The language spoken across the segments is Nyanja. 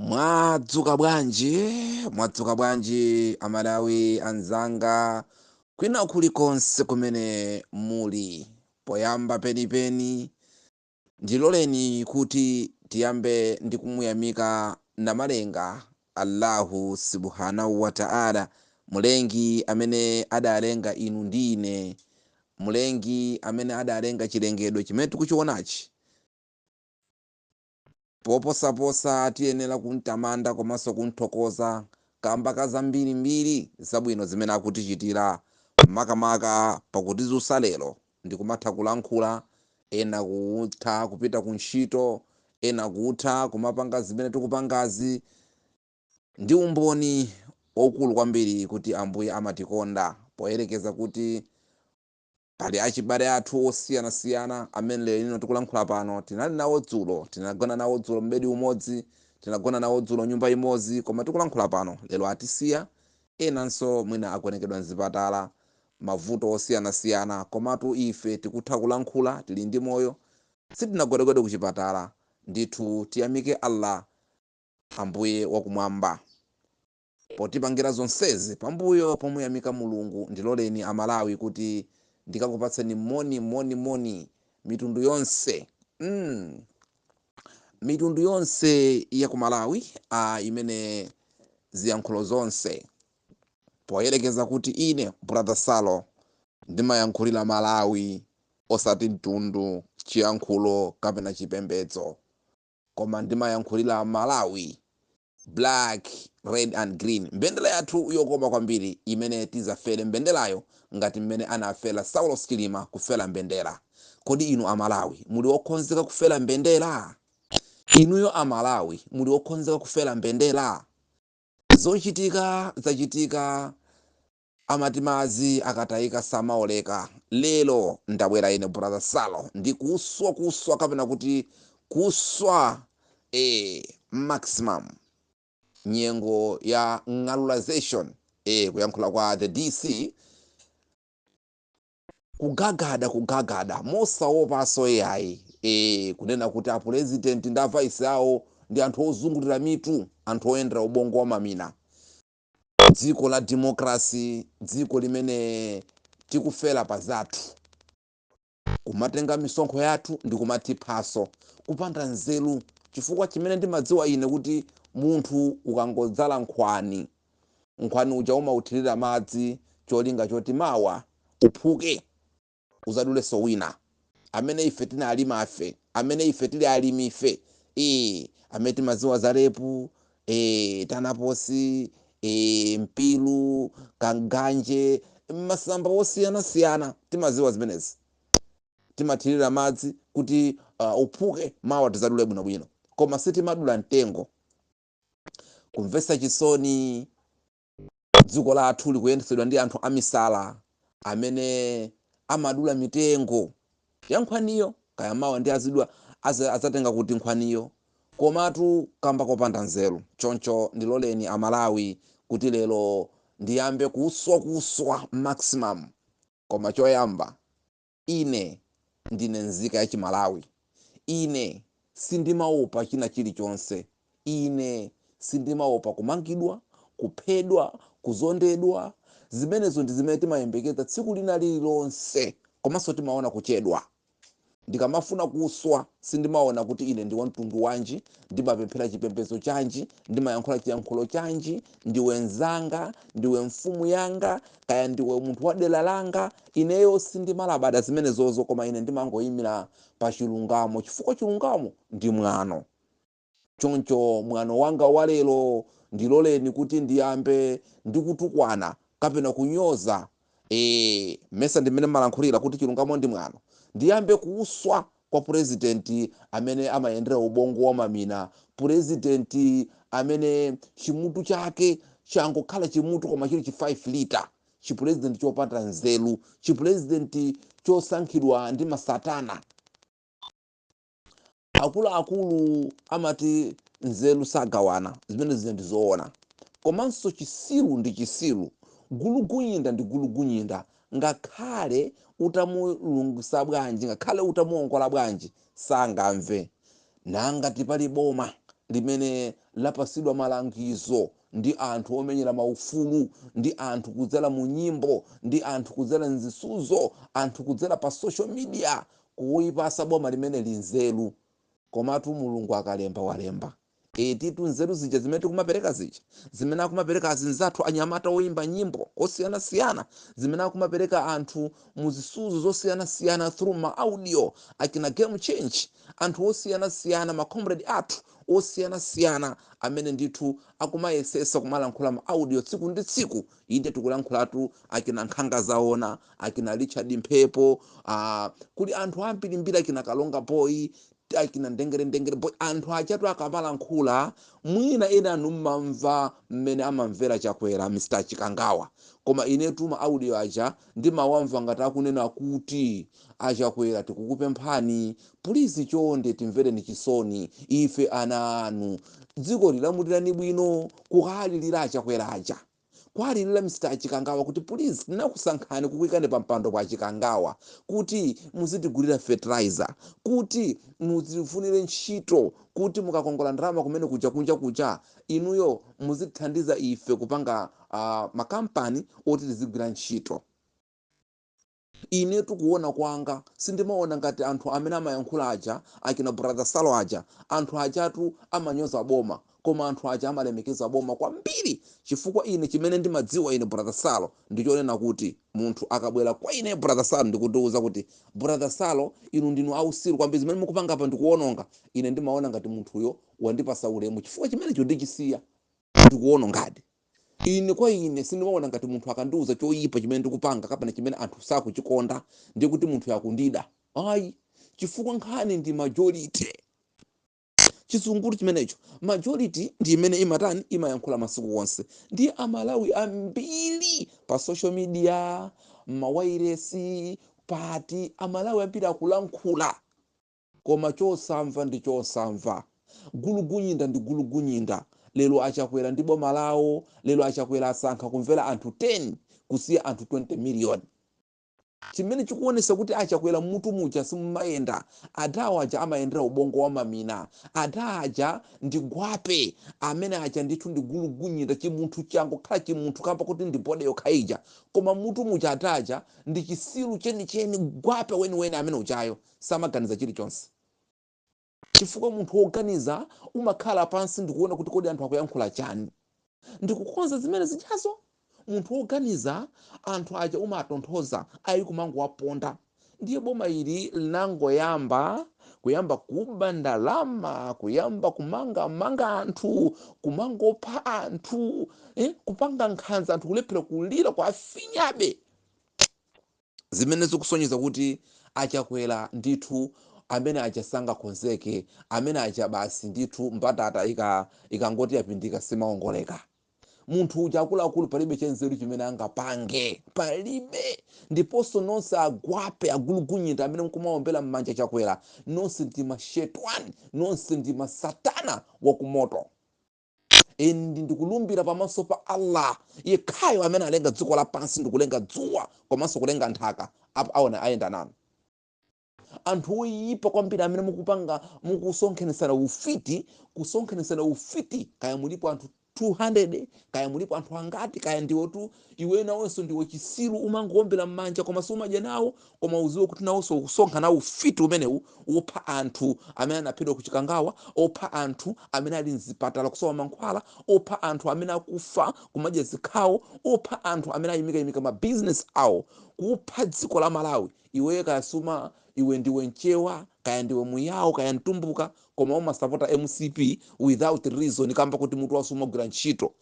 mwadzuka bwanji mwadzuka bwanji amalawi anzanga kwina kulikonse kumene muli poyamba penipeni ndiloleni kuti tiyambe ndi kumuyamika namalenga allahu subhanahu wataala mulengi amene adalenga inu ndi ine mulengi amene adalenga chilengedwe chimene tikuchionachi Poposaposa, tiyenera kum'tamanda komanso kum'thokoza kaamba ka zambirimbiri zabwino zimene akutichitira, makamaka pa kutidzutsa lero ndi kumatha kulankhula, ena kutha kupita kuntchito, ena kutha kumapanga zimene tikupangazi. Ndi umboni waukulu kwambiri kuti Ambuye amatikonda poyerekeza kuti. Pali achibale athu osiyanasiyana amene lero lino tikulankhula pano, tinali nawo dzulo, tinagona nawo dzulo m'bedi umodzi, tinagona nawo dzulo nyumba imodzi, koma tikulankhula pano, lero atisiya, enanso mwina agonekedwa m'zipatala, mavuto osiyanasiyana, komatu ife tikutha kulankhula, tili ndi moyo, sitinagonekedwe kuchipatala, ndithu tiyamike Allah Ambuye wakumwamba. potipangira zonsezi pambuyo pomuyamika mulungu ndiloleni amalawi kuti ndikakupatseni moni moni moni mitundu yonse mm mitundu yonse ya ku malawi a imene ziyankhulo zonse poyerekeza kuti ine brother salo ndimayankhulira malawi osati mtundu chiyankhulo kapena chipembedzo koma ndimayankhulira malawi Black, red and green. Mbendela yathu yokoma kwambiri imene tizafele mbendelayo ngati mmene anafela Saulos Chilima kufela mbendela. Kodi inu a Malawi muli okonzeka kufela mbendela? Inuyo a Malawi muli okonzeka kufela mbendela? Zochitika zachitika Amati madzi akatayika samaoleka. Lero ndabwera ine brother Salo ndi kuswa kuswa kapena kuti kuswa ee maximum nyengo ya ng'alulization ee kuyankhula kwa the DC kugagada kugagada mosaopanso iyayi ee kunena kuti a president ndi a vice awo ndi anthu ozungulira mitu anthu oyendera ubongo wa mamina dziko la democracy dziko limene tikufela pa zathu kumatenga misonkho yathu ndi kumatiphaso kupanda nzeru chifukwa chimene ndimadziwa ine kuti munthu ukangodzala nkhwani nkhwani uja umauthirira madzi cholinga choti mawa uphuke Udzadulenso wina. Amene ife tinalima ife, amene ife tiri alimife, ee, amene timadziwa za repu, ee, tanaposi, ee, mpiru, kanganje, masamba osiyanasiyana, timadziwa zimenezi. Timathirira madzi kuti, uh, uphuke, mawa tidzadule bwinobwino. Koma sitimadula mtengo. Kumvetsa chisoni! Dziko lathu likuyendetsedwa ndi anthu amisala amene amadula mitengo ya nkhwaniyo. Kaya mawa ndi azidya, az, azatenga kuti nkhwaniyo? Komatu kamba kopanda nzeru. Choncho ndiloleni a Malawi kuti lero ndiyambe kuuswakuswa maximum. Koma choyamba Ine ndine nzika ya Chimalawi. Ine sindimaopa china chilichonse. Ine sindimaopa kumangidwa, kuphedwa, kuzondedwa. Zimenezo ndi zimene timayembekeza tsiku lina lililonse komanso timaona kuchedwa. Ndikamafuna kuswa, sindimaona kuti ine ndi wamtundu wanji, ndimapemphera chipembedzo chanji, ndimayankhula chiyankhulo chanji, ndiwe mnzanga, ndiwe mfumu yanga, kaya ndiwe munthu wa dera langa, ineyo sindimalabada zimenezozo koma ine ndimangoimira pa chilungamo chifukwa chilungamo ndi mwano. Choncho mwano wanga wa lero, ndiloleni kuti ndiyambe ndi kutukwana kapena kunyoza, ee, mesa ndimene mmalankhulira kuti chilungamo ndi mwano, ndiyambe kuuswa kwa purezidenti amene amayendera ubongo wa mamina purezidenti amene chimutu chake changokhala chimutu koma chili chi 5 lita chipurezidenti chopanda nzeru chipurezidenti chosankhidwa ndi masatana akuluakulu amati nzeru sagawana zimene zija ndi zoona komanso chisiru ndi chisiru gulugunyinda ndi gulugunyinda Ngakhale utamulungisa bwanji, ngakhale utamuongola bwanji sangamve. Nangati pali boma limene lapatsidwa malangizo ndi anthu omenyera maufulu, ndi anthu kudzera mu nyimbo, ndi anthu kudzera m'zisudzo, anthu kudzera pa social media kulipatsa boma limeneli nzeru. Komatu Mulungu akalemba walemba. Etitu nzeru zija zimene tikumapereka zija, zimene akumapereka azinzathu anyamata oyimba nyimbo osiyanasiyana, zimene akumapereka anthu mu zisudzo zosiyanasiyana through ma audio, achina Game Change, anthu osiyanasiyana, ma comrade athu osiyanasiyana amene ndithu akumayesetsa kumalankhula ma audio tsiku ndi tsiku, inde tikulankhulatu achina Nkhanga Zaona, achina Richard Mphepo, aah kuli anthu ambirimbiri achina Kalonga Boy, akina ndengere ndengere boy anthu ajatu akamalankhula mwina enanu mmamva mmene amamvera chakwera Mr chikangawa koma inetu ma audio aja ndimawamva ngati akunena kuti achakwera tikukupemphani pulizi chonde timvereni chisoni ife ana anu dziko lilamulirani bwino kuwalilira achakwera aja kwalilila Mr chikangawa kuti please tinakusankhani kukuikani pa mpando bwana chikangawa kuti muzitigulila fertilizer kuti mutifunile ntchito kuti mukakongola ndalama kumene kuja kunja kuja inuyo muzitithandiza ife kupanga uh, makampani oti tizigwila ntchito Inetu kuona kwanga sindimaona ngati anthu amene amayankhula aja akina brother Salo aja, anthu ajatu amanyoza boma koma anthu aja amalemekeza boma kwambiri chifukwa ine chimene ndimadziwa ine brother Salo ndichonena kuti munthu akabwera kwa ineyo brother Salo ndikundiuza kuti brother Salo inu ndinu ausiru kwambiri zimene mukupanga apa ndikuononga ine ndimaona ngati munthuyo wandipasa ulemu chifukwa chimenecho ndichisiya ndikuonongadi. Ine, kwa ine, sindimaona ngati munthu akandiuza choipa chimene ndikupanga kapena chimene anthu sakuchikonda ndiye kuti munthuyo akundida. Ayi, chifukwa nkhani ndi majority. Chizungulu chimenecho. Majority ndi imene imatani, imayankhula masiku onse. Ndiye a Malawi ambiri pa social media, mmawailesi, pati, a Malawi ambiri akulankhula. Koma chosamva ndi chosamva. Gulugunyinda ndi gulugunyinda. Lero a Chakwera ndi boma lawo, lero a Chakwera asankha kumvera anthu 10 kusiya anthu 20 million. Chimene chikuonesa kuti a Chakwera mmutu muja simumayenda. Adawo aja amayendera ubongo wa mamina. Ada aja ndi gwape. Amene aja ndithu ndi gulugunyinda. Chimunthu changokhala chimunthu kamba koti ndi body yokha ija. Koma mmutu muja ada aja ndi chisiru chenicheni, gwape weniweni amene ujayo. samaganiza chilichonse. Chifukwa munthu woganiza umakhala pansi ndikuona kuti kodi anthu akuyankhula chani? Ndikukonza zimene zijazo? Munthu woganiza anthu aja umatonthoza ayi kumangowaponda. Ndiye boma ili linangoyamba kuyamba kuba ndalama, kuyamba kumangamanga anthu, kumangopha anthu, eh, kupanga nkhanza anthu kulephera kulira kuwafinyabe. zimene zikusonyeza kuti a Chakwera ndithu amene aja sangakonzeke, amene aja basi ndithu mbatata ika ikangoti yapindika simaongoleka. Munthu uja akuluakulu palibe chanzeru chimene angapange, palibe. Ndiponso nonse agwape agulugunyinda amene mkumaombera m'manja Chakwera, nonse ndi mashetwani, nonse ndi masatana wa kumoto. ndi ndikulumbira pamaso pa allah yekhayo amene alenga dziko lapansi ndikulenga dzuwa komanso kulenga nthaka apo aona ayenda nanu anthu oyipa kwambiri amene mukupanga mukusonkhanitsana ufiti kusonkhanitsana ufiti kaya mulipo anthu 200 kaya mulipo anthu angati kaya ndiwotu Iweyo nawonso ndiwe chitsiru umangoombera mmanja koma sumadya nawo koma uziwe kuti nawonso ukusonkha nawo ufiti umenewu wopha anthu amene anaphedwa ku chikangawa opha anthu amene ali mzipatala kusowa mankhwala opha anthu amene akufa kumadya zikhawo opha anthu amene ayimikayimika ma business awo kupha dziko la malawi iweyo kaya suma iwe ndiwe mchewa kaya ndiwe muyao kaya mtumbuka koma umasapota mcp without reason kamba koti mutu wako sumagwira ntchito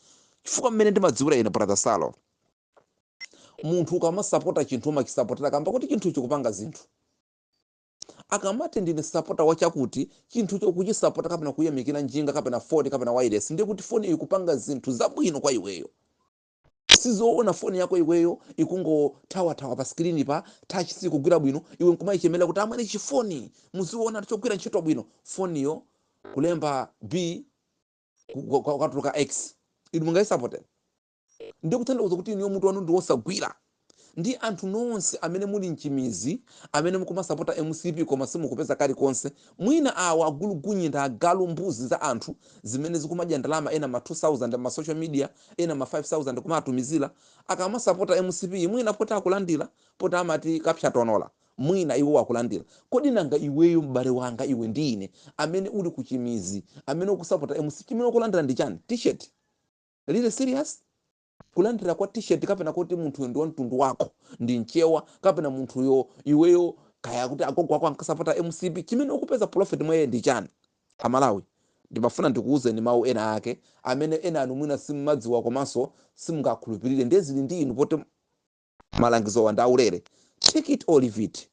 chifukwa mmene ndimadziwira ine brother salo munthu ukamasapota chinthu umachisapotera kamba kuti chinthu chikupanga zinthu akamati ndine sapota wachakuti chinthu chokuchisapota kapena kuyamikira njinga kapena foni kapena wireless ndiye kuti foni ikupanga zinthu zabwino kwa iweyo sizoona foni yako iweyo ikungothawathawa pa skrini pa touch sikugwira bwino iwe nkumayichemera kuti amwene chifoni muziona chogwira ntchito bwino foniyo kulemba b kwatuluka x inu mungayisapote ndi kutanthauza kuti inuyo mutu wanu ndi wosagwira ndi anthu nonse amene muli mchimizi amene mukumasapota mcp koma simukupeza kalikonse mwina awa agulugunyinda agalu mbuzi za anthu zimene zikumadya ndalama ena ma 2000 ma social media ena ma 5000 kumatumizira akamasapota mcp mwina poti akulandira poti amati kapsa tonola Mwina iwo akulandira. Kodi nanga iweyo, m'bale wanga, iwe ndi ine, amene uli kuchimizi, amene ukusapota mcp, chimene ukulandira ndi chani? T-shirt? Really serious? Kulandira kwa t-shirt kapena koti munthuyo ndi wa mtundu wako, ndi mchewa, kapena munthuyo, iweyo, kaya akuti agogo ako ankasapota mcp, chimene ukupeza profit mwa iye ndi chani? A Malawi, ndimafuna ndikuuzeni mau ena ake amene enanu mwina simumadziwa komanso simungakhulupilire, ndiye zili ndi inu poti. malangizowa ndi aulere take it or leave it.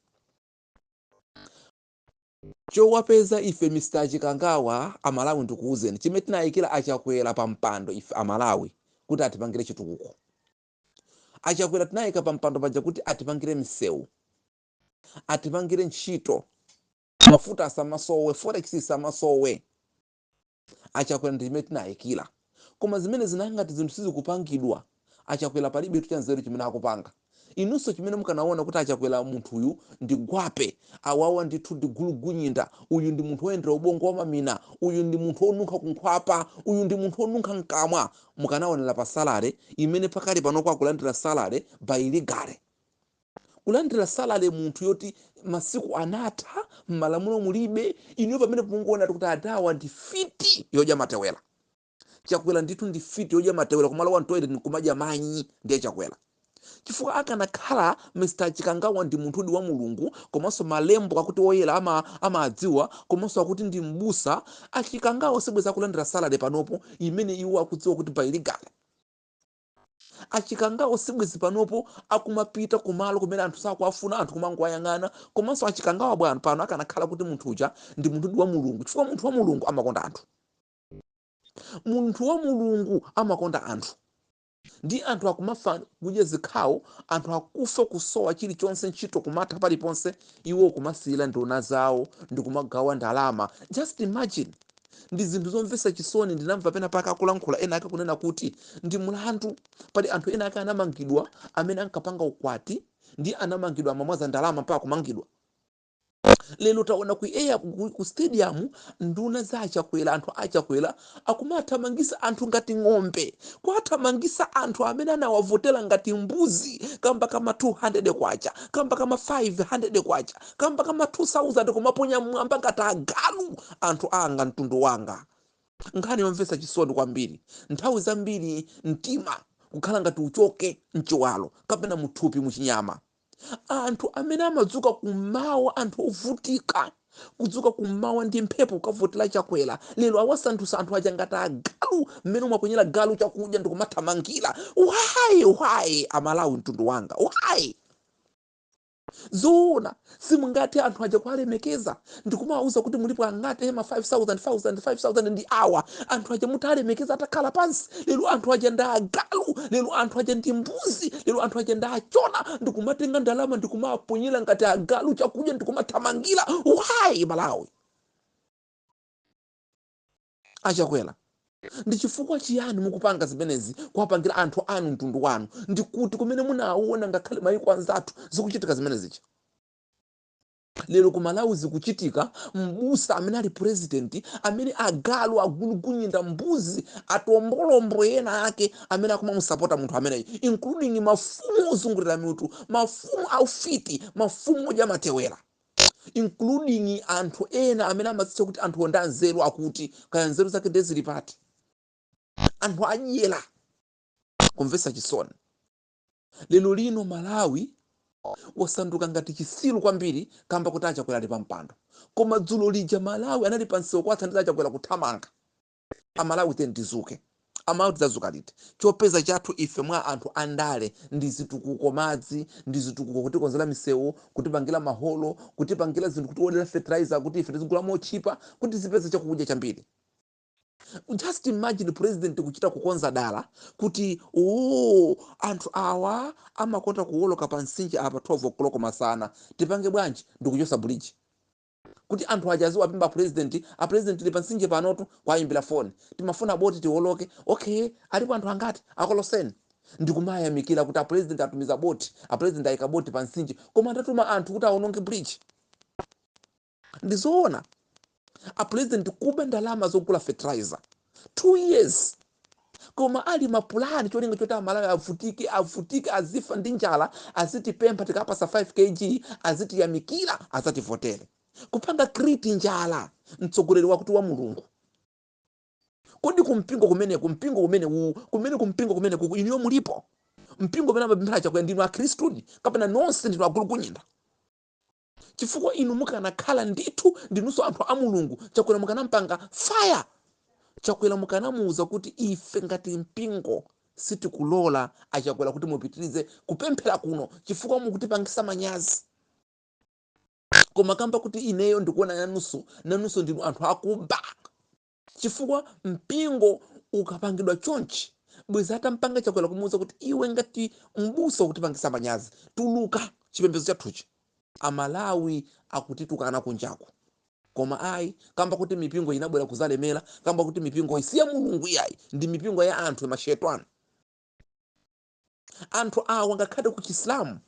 Chowapeza ife Mr Chikangawa amalawi ndikuuzeni chimene tinayikila a Chakwera pa mpando ife amalawi kuti atipangile chitukuko. A Chakwera tinayika pa mpando paja kuti atipangile misewu, atipangile ntchito, mafuta asamasowe, forex isamasowe. achakwera ndi chimene tinayikira koma zimene zina ngati zinthu sizikupangidwa achakwera palibetu chanzeru chimene akupanga inunso chimene mukanaona kuti achakwera munthuyu ndi gwape awawa ndithu ndi gulugunyinda uyu ndi munthu woyendera ubongo wamamina uyu ndi munthu wonunkha kunkhwapa uyu ndi munthu wonunkha mkamwa mukanaonera pa salary imene pakali panopo akulandira salary by legally kulandira salale munthu yoti masiku anatha m'malamulo mulibe inuyo pamene mungoona kuti adawa ndi fiti yodya matewera chakwera ndithu ndi fiti yodya matewera kumalowa mtoilet nkumadya manyi ndiye chakwera chifukwa akanakhala mr chikangawa ndi munthudi wa mulungu komanso malembo akuti woyera ama- amadziwa komanso akuti ndi mbusa achikangawa sibweza akulandira salale panopo imene iwo akudziwa kuti by legal achikangawa sibwezi panopo akumapita kumalo kumene anthu sakuwafuna anthu kumangowayang'ana komanso achikangawa bwenzi pano akanakhala kuti munthu uja ndi munthudi wa mulungu chifukwa munthu wa mulungu amakonda anthu munthu wa mulungu amakonda anthu ndi anthu akumafa kudya zikhawo anthu akufa kusowa chilichonse ntchito kumatha paliponse iwo kumasiyira nduna zawo ndi kumagawa ndalama just imagine ndi zinthu zomvetsa chisoni ndinamva pena pake akulankhula ena ake kunena kuti ndi mlandu pali anthu ena ake anamangidwa amene ankapanga ukwati ndi anamangidwa amamwaza ndalama mpaka kumangidwa lero taona ku air ku, ku stadium nduna za achakwera anthu achakwera akumathamangisa anthu ngati ng'ombe kuwathamangisa anthu amene anawavotera ngati mbuzi kamba kama 200 kwacha kamba kama 500 kwacha kamba ka ma 2000 kumaponya mmwamba ngati agalu anthu anga mtundu wanga nkhani yomvetsa chisoni kwambiri nthawi zambiri mtima kukhala ngati uchoke mchiwalo kapena muthupi muchinyama anthu amene amadzuka kummawa anthu ovutika kudzuka kummawa ndi mphepo kukavotera chakwera lero awasandutsa anthu aja ngati agalu mmene umaponyera galu chakudya ndikumathamangira why why amalawi mtundu wanga why Zoona, simungathe anthu aja kuwalemekeza ndikumawauza kuti mulipo angati ema 5000 1000 5000 ndi awa anthu aja mutalemekeza atakhala pansi lero anthu aja ndi agalu lero anthu aja ndi mbuzi lero anthu aja ndi achona ndikumatenga ndalama ndikumaponyera ngati agalu chakudya ndikumathamangira why malawi A Chakwera, ndi chifukwa chiyani mukupanga zimenezi kuwapangira anthu anu mtundu wanu? Ndi kuti kumene munawona ngakhale mayiko anzathu zikuchitika zimene zija? Lero ku Malawi zikuchitika, m'busa amene ali president amene agalu, agulugunyinda, mbuzi, atombolombo ena ake amene akumamusapota munthu ameneyu including mafumu ozungulira mitu, mafumu aufiti, mafumu odya matewera. including anthu ena amene amadzitcha kuti anthuwo ndi anzeru akuti kaya nzeru zake ndiye zili pati anthu adyera kumvetsa chisoni lero lino malawi wasanduka ngati chisilu kwambiri kamba kuti achakwera ali pampando koma dzulo lija malawi anali pansewu kuwathandiza achakwera kuthamanga amalawi tiyeni tizuke amalawi tidzazuka liti chopeza chathu ife mwa anthu andale ndi zitukuko madzi ndi zitukuko kutikonzera misewu kutipangira maholo kutipangira zinthu kutiwodera fertilizer kuti ife tizigula motchipa kuti tizipeza chakudya chambiri just imagine president kuchita kukonza dala kuti oo anthu awa amakonda kuwoloka pa mtsinje apa 12 koloko masana tipange bwanji ndikuchosa bridge kuti anthu aja aziwapempha a president a president tili pa nsinje panotu kwayimbira foni timafuna boti tiwoloke okay alipo anthu angati akoloseni ndikumayamikira kuti a president atumiza boti a president ayika boti pa nsinje koma atatuma anthu kuti awononge bridge ndizoona a president kuba ndalama zogula fertilizer 2 years koma ali mapulani cholinga choti amalawi avutike avutike azifa ndi njala azitipempha tikapasa 5 kg azitiyamikira azativotere kupanga create njala mtsogoleri wakuti wa mulungu kodi kumpingo kumeneku mpingo umene uwu kumene kumpingo kumeneku inuyo mulipo mpingo umene amapemphera chakwera ndinu akhristudi kapena nonse ndinu agulukunyinda chifukwa inu mukanakhala ndithu ndinunso anthu a mulungu chakwera mukanampanga fire chakwera mukanamuuza kuti ife ngati mpingo sitikulola achakwera kuti mupitirize kupemphera kuno chifukwa mukutipangisa manyazi koma kamba kuti ineyo ndikuona nanunso nanunso ndinu anthu akuba Chifukwa mpingo ukapangidwa chonchi bwezi atampanga chakwera kumuuza kuti iwe ngati m'busa wakutipangisa manyazi tuluka chipembezo chathuchi amalawi akutitukana kunjaku koma ayi kamba kuti mipingo inabwera kuzalemera kamba kuti mipingoyi si ya mulungu iyayi ndi mipingo ya anthu mashetani anthu awa ngakhale ku chisilamu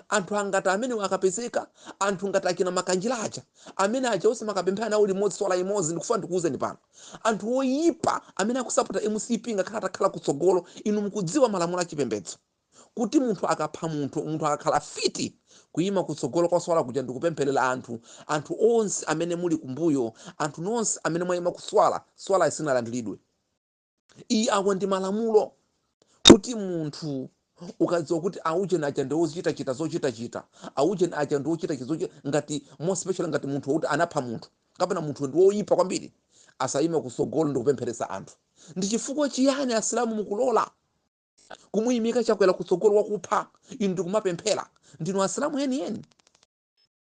anthu angati amene akapezeka anthu ngati achina makanjira aja amene aja onse makapemphera nawo limodzi swala imodzi ndikufuna ndikuwuzeni pano anthu oyipa amene akusapota mcp ngakhale atakhala kutsogolo inu mukudziwa malamulo achipembedzo kuti munthu akapha munthu munthu akakhala fiti kuyima kutsogolo kwa swala kuja ndikupempherera anthu anthu onse amene muli kumbuyo anthu nonse amene mwayima kuswala swala sinalandiridwe ayi awa ndi malamulo kuti munthu ukadziwa kuti aujeni aja ndi wozichitachita zochitachita aujeni aja ndi wochitachita zochita ngati more special ngati munthu wokuti anapha munthu kapena munthu ndi woyipa kwambiri asayime kusogolo ndi kupempheresa anthu ndi chifukwa chiyani asilamu mukulola kumuyimika chakwera kutsogolo wakupha inu ndikumapemphera ndinu asilamu enieni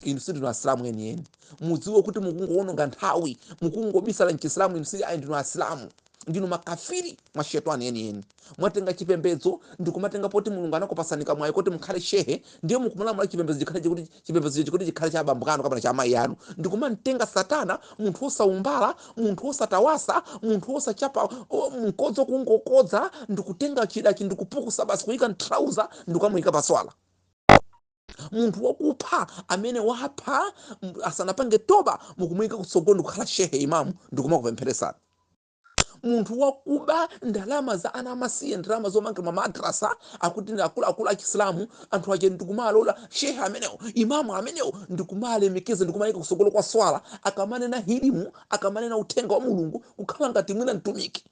inu sindinu asilamu enieni mudziwe kuti mukungowononga nthawi mukungobisala mchisilamu inu si ayi ndinu asilamu ndinu makafiri mashetani enieni mwatenga chipembedzo ndikumatenga poti mulungu anakupatsani kamwayi kuti mukhale shehe ndiye mukumulamula chipembedzo chikhale kuti chipembedzo ichi kuti chikhale cha abambo anu kapena cha amayi anu ndikumamtenga satana, munthu wosaumbala munthu wosatawasa munthu wosachapa o, mkodzo kungokodza ndikutenga chidachi ndikupukusa basi kuyika mtrauza ndikukamuyika paswala munthu wakupha amene wapha asanapange toba mukumuyika kutsogolo ndikukhala shehe imamu ndikumakupempheresani munthu wakuba ndalama za ana amasiye ndalama zomangira mamadrasa akuti ndi akuluakulu achisilamu anthu aja ndikumaalola shehe amenewo imamu amenewo ndikumalemekeza ndikumayika kutsogolo kwa swala akamanena hilimu akamanena uthenga wa mulungu kukhala ngati mwina mtumiki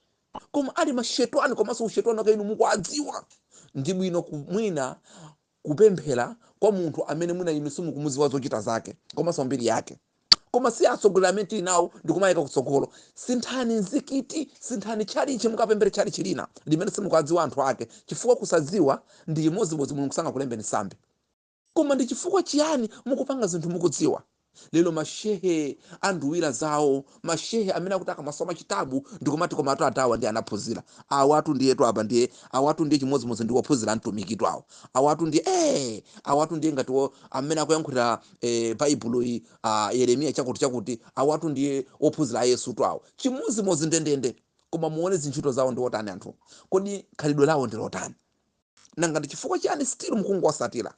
koma ali mashetwani komanso ushetwani wake inu mukuudziwa ndi bwino mwina kupemphera kwa munthu amene mwina inu simukumudziwa zochita zake komanso mbiri yake koma si atsogoleri amene tili nawo ndikumayika kutsogolo sinthani mzikiti sinthani tchalitchi mukapemphere tchalitchi lina limene simukuwadziwa anthu ake chifukwa kusadziwa ndi chimodzimodzi mulungu sangakulembeni sambi koma ndi chifukwa chiyani mukupanga zinthu mukudziwa? Lero ma shehe anduwira zawo, ma shehe amene akuti akamasoma chitabu ndikumati komatu adhawa ndiye anaphunzira. Awatu ndiyetu apa ndiye, awatu ndiye chimodzimodzi ndi ophunzira a Mtumikitu awa. Awatu ndiye eeh! Awatu ndiye ngati wo amene akuyankhulira eh Baibulo iyi ah Yeremiya chakuti chakuti, awatu ndiye ophunzira a Yesutu awa. Chimodzimodzi ndendende. Koma muone zintchito zawo ndi otani anthuwo. Kodi khalidwe lawo ndi lotani? Nanga ndi chifukwa chiyani still mukungowatsatira?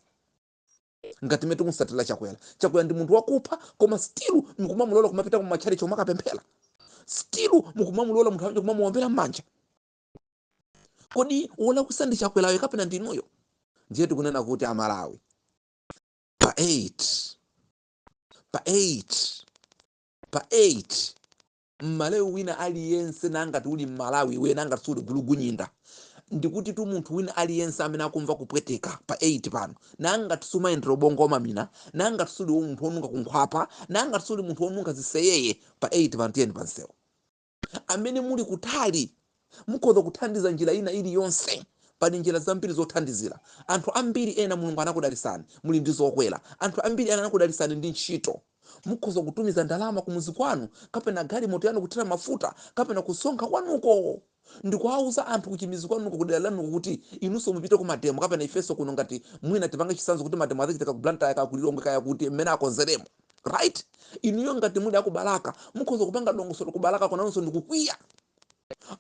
ngati mmene tikumutsatira chakwera chakwera ndi munthu wakupha koma still mukumamulola kumapita kumatchalitchi kumakapemphera still mukumamulola munthu uja kumamuombera m'manja kodi wolakwitsa ndi chakwerayo kapena ndinuyo ndiye tikunena kuti amalawi pa 8 pa 8 pa 8 M'Malawi wina aliyense nangati uli M'Malawi iweyo nangati suli gulugunyinda ndikutitu munthu wina aliyense amene akumva kupweteka pa 8 pano nangati sumayendera ubongo wamamina nangati suli munthu wonunkha kunkhwapa nangati suli munthu wonunkha ziseyeye pa 8 pano tiyeni pansewu amene muli kutali Mukhoza kuthandiza njira ina ili yonse. Pali njira zambiri zothandizira. Anthu ambiri ena Mulungu anakudalisani muli ndi zokwera. Anthu ambiri ena anakudalisani ndi ntchito. Mukhoza kutumiza ndalama kumudzi kwanu kapena galimoto yanu kuthira mafuta kapena kusonkha kwanuko ndikuwauza anthu kuchimidzi kwanuko kudera lanuko kuti inunso mupite kumademo kapena ifenso kuno ngati mwina tipange chitsanzo kuti mademo adzachitika ku Blantyre kaya ku Lilongwe kaya kuti mmene akonzeremo right. Inuyo ngati muli aku Balaka mukhoza kupanga dongosolo ku Balakako nanunso ndikukwiya.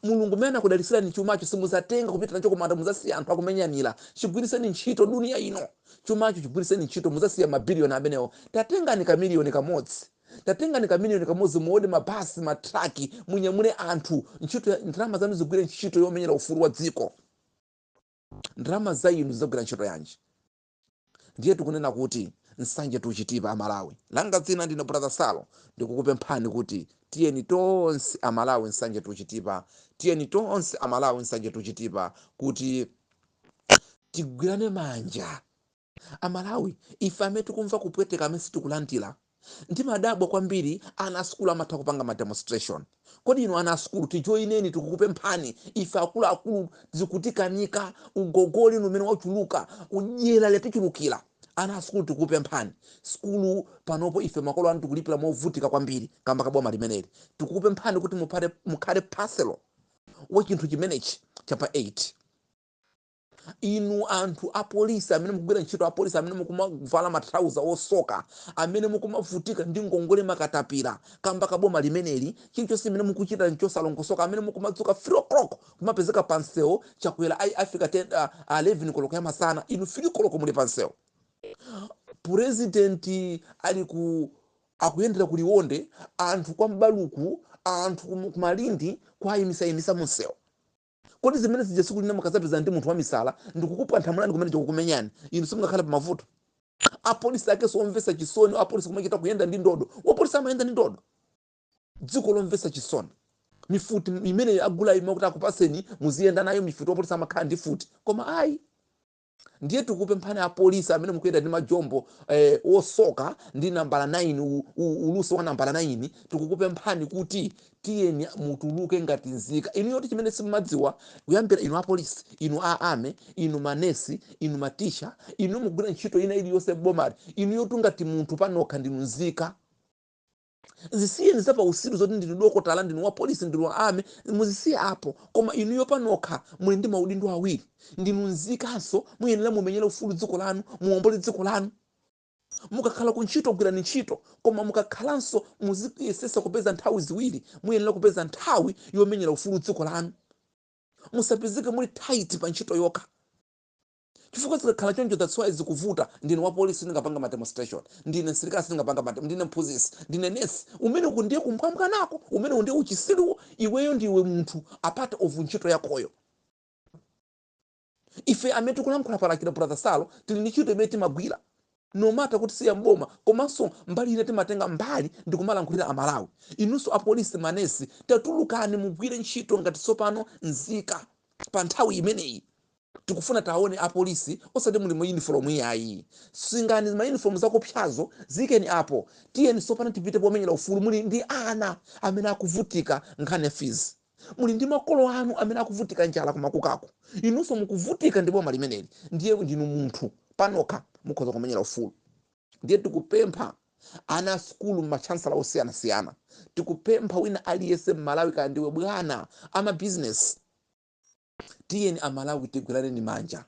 Mulungu mmene wakudalitsirani chumacho simudzatenga kupita nacho kumanda mudzasiya anthu akumenyanira chigwiritseni ntchito dunia ino chumacho chigwiritseni ntchito mudzasiya mabiliyoni amenewo tatengani kamiliyoni kamodzi tatengani kamiliyoni kamodzi muode mabasi matraki munyamule anthu ntchito ya- ndalama zanu zigwire ntchito yomenyera ufulu wa dziko ndalama za inu zidzagwira ntchito yanji ndiye tikunena kuti nsanje tuchitipa amalawi langa dzina ndine brother salo ndikukupemphani kuti tiyeni tonse amalawi nsanje tuchitipa tiyeni tonse amalawi nsanje tuchitipa kuti tigwirane manja amalawi ife amene tikumva kupweteka amene sitikulandira Ndimadabwa kwambiri ana a sukulu amatha kupanga ma demonstration. Kodi inu ana a sukulu tijoineni tikukupemphani ife akuluakulu zikutikanika ugogodi umene wachuluka dyera latichulukira. Ana a sukulu tikukupemphani sukulu panopo ife makolo anu tikulipira movutika kwambiri kamba ka boma limeneli. Tikukupemphani kuti mukhale parcel wa chinthu chimenechi cha pa 8. Inu anthu apolisi amene mukugwira ntchito apolisi amene mukumavala matrauza osoka amene mukumavutika ndi ngongole makatapira kamba ka boma limeneli chilichonse chimene mukuchita nchosalongosoka amene mukumadzuka 3 o'clock kumapezeka pa msewu Chakwera adzafika 10 ah, 11 koloko ya masana inu 3 koloko muli pa msewu president ali ku akuyendera ku liwonde anthu kwa mbaluku anthu ku ku malindi kuwayimitsayimitsa mu msewu Kodi zimene zija tsiku lina mukadzapezana ndi munthu wamisala ndikukupwanthamulani kumene kukumenyani, inu simungakhale pamavuto? Apolisi akenso omvetsa chisoni, apolisi kumachita kuyenda ndi ndodo, wapolisi amayenda ndi ndodo. Dziko lomvetsa chisoni. Mifuti imeneyo agulayi mmati akupatseni muziyenda nayo mifuti, wapolisi amakhala ndi mfuti. Koma ayi. ndiye tikupemphani apolisi amene mukuyenda ndi majombo eh, osoka ndi nambala 9 u- u- ulusi wa nambala 9 tikukupemphani kuti tiyeni mutuluke ngati nzika inuyo ti chimene simumadziwa kuyambira inu apolisi inu a ame inu manesi inu matitcha inu mukugwira ntchito ina iliyonse m'bomali inuyo ngati munthu panokha ndinu nzika zisiyeni za pausiru zoti ndinu dokotala ndinu wa polisi ndinu wa ame muzisiye apo koma inuyo panokha muli ndi maudindo awiri ndinu nzikanso muyenera mumenyere ufulu dziko lanu muwombole dziko lanu mukakhala ku ntchito gwirani ntchito koma mukakhalanso muziyesetsa kupeza nthawi ziwiri muyenera kupeza nthawi yomenyera ufulu dziko lanu musapezeke muli tight pa ntchito yokha chifukwa zikakhala choncho that's why zikuvuta ndine wa police sindingapanga ma demonstration ndine msilikali sindingapanga ma dem- ndine mphunzitsi ndine nesi umene uku ndiye kumbwambwanako umenewu ndiye uchisiruwo iweyo ndiwe munthu apart of ntchito yakoyo ife amene tikulankhula palakira brother salo tili ndi ntchito imene timagwira no matter kuti siya mboma komanso mbali ina timatenga mbali ndi kumalankhulira amalawi inunso apolisi manesi tatulukani mugwire ntchito ngati tsopano nzika pa nthawi imeneyi Tikufuna taone a police osati muli mu uniform iyayi. Sungani ma uniform zakupsyazo ziikeni apo. Tiyeni tsopano tipite pomenyera ufulu. Muli ndi ana amene akuvutika nkhani ya fees. Muli ndi makolo anu amene akuvutika njala ku makukako. Inunso mukuvutika ndi boma limeneli ndiye ndinu munthu panokha mukhoza kumenyera ufulu. Ndiye tikupempha ana a sukulu ma chancellor osiyanasiyana, tikupempha wina aliyense mmalawi kaya ndiwe bwana, a ma business, Tiyeni a Malawi tigwiraneni manja.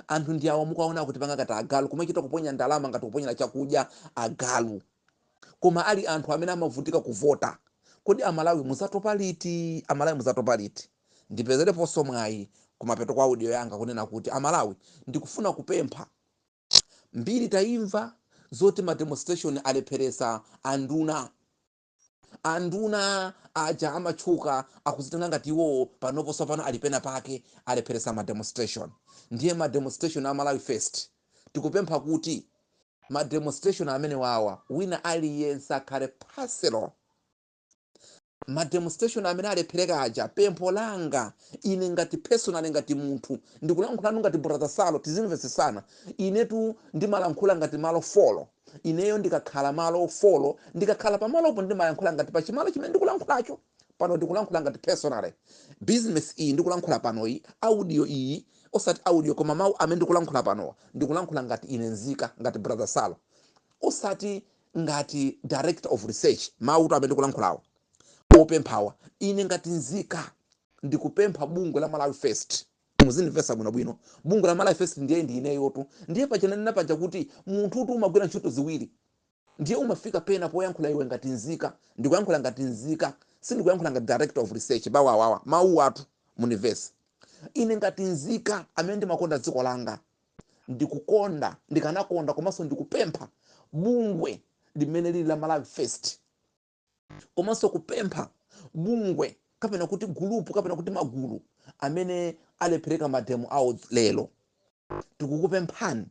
Anthu ndi awo mukuwaona akutipanga ngati agalu, kumachita kuponya ndalama ngati kuponyera chakudya agalu. Koma ali anthu amene amavutika kuvota. Kodi a Malawi muzatopa liti? A Malawi muzatopa liti? Ndipezerepo nso mwayi kumapeto kwa audio yanga kunena kuti a Malawi ndikufuna kupempha, mbiri taimva zoti ma demonstration alepheretsa anduna. Anduna aja amatchuka akuzitenga ngati iwowo panopo sopano ali pena pake alepheresa ma demonstration ndiye ma demonstration a Malawi first tikupempha kuti ma demonstration amenewawa wina aliyense akhale parcel ma demonstration amene alephereka aja pempho langa ine ngati personally ngati munthu ndikulankhulano ngati brother Salo tizimvetsetsana inetu ndimalankhula ngati malo folo Ineyo ndikakhala malo folo, ndikakhala pamalopo ndimalankhula ngati pachimalo chimene ndikulankhulacho. Pano ndikulankhula ngati personally. Business iyi ndikulankhula panoyi, audio iyi, osati audio koma mau amene ndikulankhula panowa, ndikulankhula ngati ine nzika, ngati brother Salo. Osati ngati director of research. Mauwotu amene ndikulankhulawa, opemphawa, ine ngati nzika ndikupempha bungwe la Malawi First. Muzindimvetsetsa bwino bwino. Bungwe la Malawi First ndiye ndi ineyotu. Ndiye paja ndanena paja kuti munthutu umagwira ntchito ziwiri. Ndiye umafika pena poyankhula iwe ngati nzika. Ndikuyankhula ngati nzika. Sindikuyankhula ngati director of research. Bawa awawa. Mawuwatu mundimvetse. Ine ngati nzika amene ndimakonda dziko langa, ndikukonda, ndikanakonda komanso ndikupempha bungwe limene lili la Malawi First, komanso kupempha bungwe kapena kuti gulupu kapena kuti magulu amene alephereka mademo awo lero tikukupemphani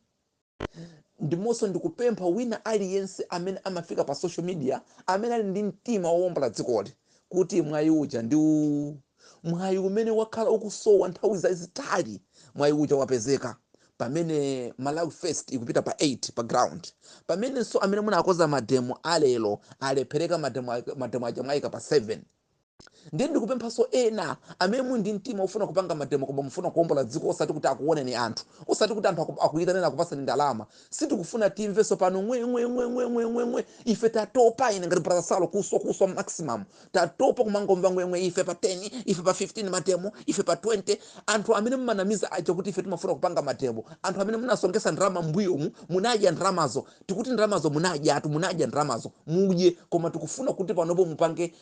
ndimonso ndikupempha wina aliyense amene amafika pa social media amene ali ndi mtima wowombola dzikoli kuti mwayi uja ndi uwu mwayi umene wakhala ukusowa nthawi zazitalizi mwayi uja wapezeka pamene malawi first ikupita pa 8 pa ground pamenenso amene munakoza mademo alero alephereka mademo ake- mademo aja mwayika pa 7 ndiye ndikupemphanso ena amene muli ndi mtima ofuna kupanga mademo koma mufuna kuombola dziko osati kuti akuoneni anthu osati kuti anthu aku- akuyitaneni akupaseni ndalama sitikufuna timvenso pano ng'weng'weng'weng'weng'weng'we ife tatopa ine ngati brasalo kuswa kuswa maximum tatopa kumangomva ngwengwe ife pa 10 ife pa 15 mademo ife pa 20 anthu amene mumanamiza aja kuti ife timafuna kupanga mademo anthu amene munasongesa ndalama mbuyomu munadya ndalamazo tikuti ndalamazo munadya atu munadya ndalamazo mudye koma tikufuna kuti panopo mupange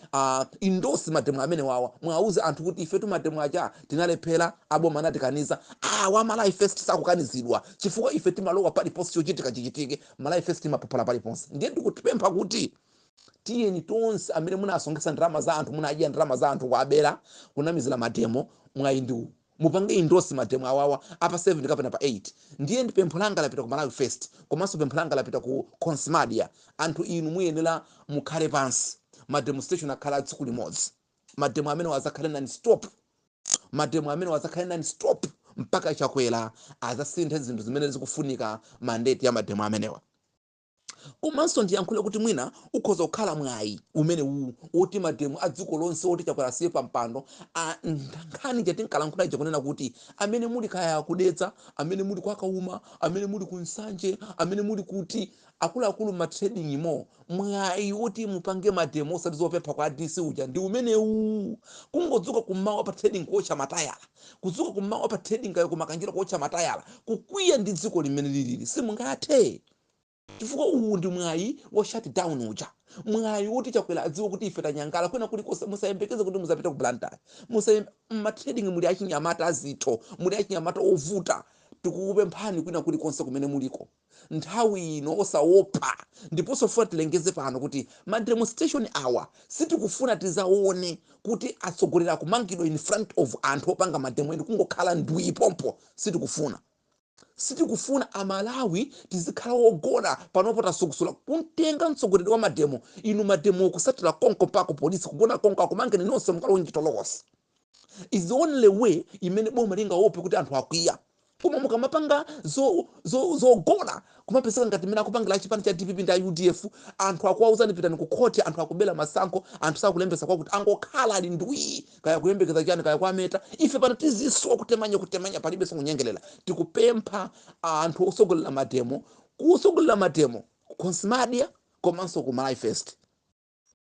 endorse mademo amenewawa mwauze anthu kuti ife mademo aja tinalephera aboma anatikaniza awa malawi first sakukanizidwa chifukwa ife timalowa paliponse chochitika chichitike malawi first imaphophola paliponse ndiye ndikukupemphani kuti tiyeni tonse amene munasonkhetsa ndalama za anthu munadya ndalama za anthu kuabera kunamizira mademo mwayi ndi uwu mupange endorse mademo awawa apa 7 kapena pa 8 ndiye ndi pempho langa lapita ku malawi first komanso pempho langa lapita ku comrade anthu inu muyenera mukhale pansi mademonstration akhale a tsiku limodzi mademo amenewa azakhale non stop mademo amenewa azakhale non stop mpaka chakwera azasinthe zinthu zimene zikufunika mandate ya mademo amenewa Komanso ndiyankhule kuti mwina ukhoza kukhala mwayi umenewu woti mademo a dziko lonse woti Chakwera asiye pampando, nkhani ija tinkalankhula ija kunena kuti amene muli kaya ku Dedza, amene muli kwa Kauma, amene muli ku Nsanje, amene muli kuti, akuluakulu m'ma trading mo, mwayi woti mupange mademo osati zopempha kwa DC uja ndi umenewu. Kungodzuka kummawa pa trading kuotcha matayala, kudzuka kummawa pa trading kaya ku Makanjira kuotcha matayala, kukwiya ndi dzikoli mmene lilili simungathe. chifukwa uwu ndi mwayi wa shut down uja mwayi woti chakwera adziwe kuti ife tanyangala kwina kulikonse musayembekeze kuti muzapita ku blantyre musayembe mmatrading muli achinyamata azitho muli achinyamata ovuta tikukupemphani kwina kulikonse kumene muliko nthawi ino osaopa ndiponso funa tilengeze pano kuti ma demonstration awa sitikufuna tizaone kuti atsogoleri akumangidwa in front of anthu opanga mademo eni kungokhala ndwii pompo sitikufuna Sitikufuna amalawi tizikhala ogona panopo tasukusula kumtenga mtsogoleri wa mademo inu mademowo kutsatila konko mpaka ku police kugona konko akumangeni nonse mukalowe mchitolokosi is the only way imene boma lingaope kuti anthu akwiya koma mukamapanga zo, zo, zogona kumapezeka ngati mmene akupangila achipani cha dpp ndi udf anthu akuwauzani pitani ku khoti anthu akubela masankho anthu sakulembesa kwakuti angokhala ali ndwii kaya kuyembekeza chani kaya kwameta ife pano tiziswa kutemanya kutemanya palibe sonyengelela tikupempha anthu osogolela mademo kusogolela mademo konsimadia komanso ku Malawi First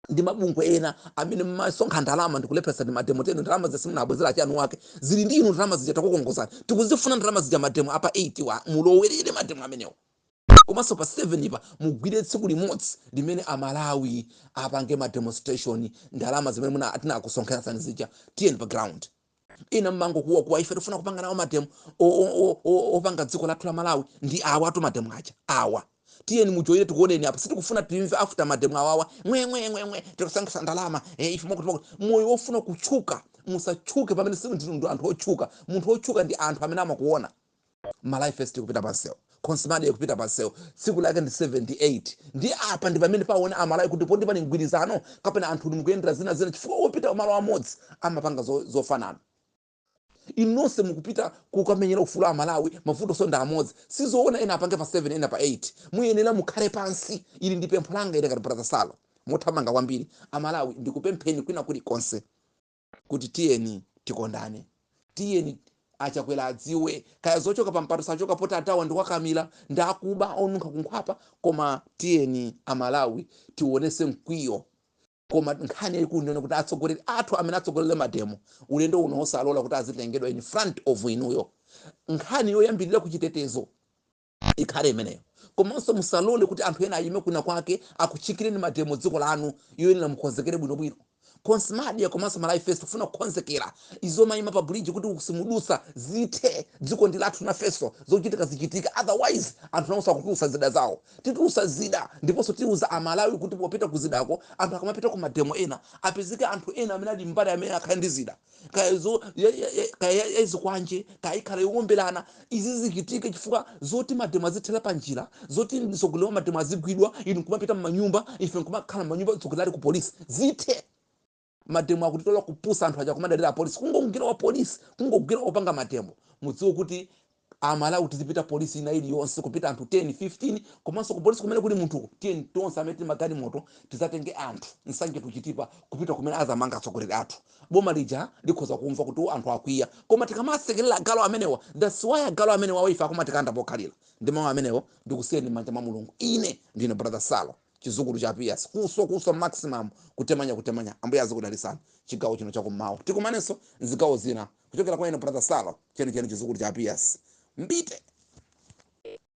ndi mabungwe ena amene mmasonkha ndalama ndikulepheresa ndi mademo tenu, ndalama simunabwezere eni wake zili ndi inu ndalama zija takukongozani tikuzifuna ndalama zija mademo apa 8 awa mulowerere mademo amenewo komanso pa 7 pa mugwire tsiku limodzi limene amalawi apange ma demonstration ndalama zimene munatisonkhetsa zija tiyeni pa ground ina mmangokuwa kuwa ife tifuna kupanga nawo mademo o- o- o- o- opanga dziko lathu la malawi ndi awatu mademo aja awa tiyeni mujoyine tikuoneni apa sitikufuna timve after mademo awawa mwemwemwemwe tikusonkhesa ndalama eh, ife mwakuti moyo wofuna kutchuka musatchuke pamene si ndi ndi anthu otchuka munthu otchuka ndi anthu amene amakuona malawi first ikupita pansewu consmadia ikupita pansewu tsiku lake ndi 7, 8 ndi apa ndi pamene paone amalawi kuti poti pali mgwirizano kapena anthu mukuyendera zina zina chifukwa opita malo amodzi amapanga zo- zofanana inu nonse mukupita kukamenyera ufulu wa amalawi mavutonso ndi amodzi sizoona ena apange pa 7 ena pa 8 muyenera mukhale pansi ili ndi pempho langa ine ngati brother salo mothamanga kwambiri amalawi ndikupempheni kwina kulikonse kuti tiyeni tikondane tiyeni achakwera adziwe kaya zochoka pa mpando sachoka poti atawa ndi okakamira ndi akuba onunkha kunkhwapa koma tiyeni amalawi tionese mkwiyo koma nkhani yayikulu ndione kuti atsogoleri athu amene atsogolere mademo ulendo uno osalola kuti azitengedwa in front of inuyo nkhani yoyambirira ku chitetezo ikhale imeneyo komanso musalole kuti anthu ena ayime kwina kwake akutchingireni mademo dziko lanu muyenera mukonzekere bwinobwino consmadia komanso malawi first kufuna kukonzekera izi zomayima pa bridge kuti simudutsa zithe dziko ndi lathu nafenso zochitika zichitika otherwise anthu nawonso akatulusa zida zawo titulusa zida ndiponso tiuza amalawi kuti popita ku zidako anthu akamapita ku mademo ena apezeke anthu ena amene ali mbali amene akhale ndi zida kaya zo- ya- ya- ya- kaya ya- ya zikwanje kaya ikhala yowombelana izi zichitike chifukwa zoti mademo azithera pa njira zoti mtsogoleri wa mademo azigwidwa inu nkumapita mmanyumba ife nkumakhala mmanyumba mtsogoleri ali ku polisi zithe mademo akutitola kupusa anthu aja kumadalira apolisi kungogwira wa polisi kungogwira opanga mademo mudziwe kuti A Malawi tizipita police ina iliyonse kupita anthu 10, 15 komanso ku police kumene kuli munthuko tiyeni tonse amene tili ndi magalimoto tizatenge anthu, Nsanje to Chitipa kupita kumene azamanga atsogoleri athu. Boma lija likhoza kumva kuti ooh anthu akwiya koma tikamasekelera agalu amenewa that's why agalu amenewawa ife akumatikanda pokhalila. Ndi mau amenewo ndikusiyeni mmanja mwa Mulungu. Ine ndine brother Salo chizukulu cha a Pius kuswa kuswa maximum kutemanya kutemanya. Ambuye azikudalisani chigawo chino chakummawa. Tikumanenso nzigawo zina. kuchokera kwa ine brother salo chenicheni chizukulu cha a pius mbite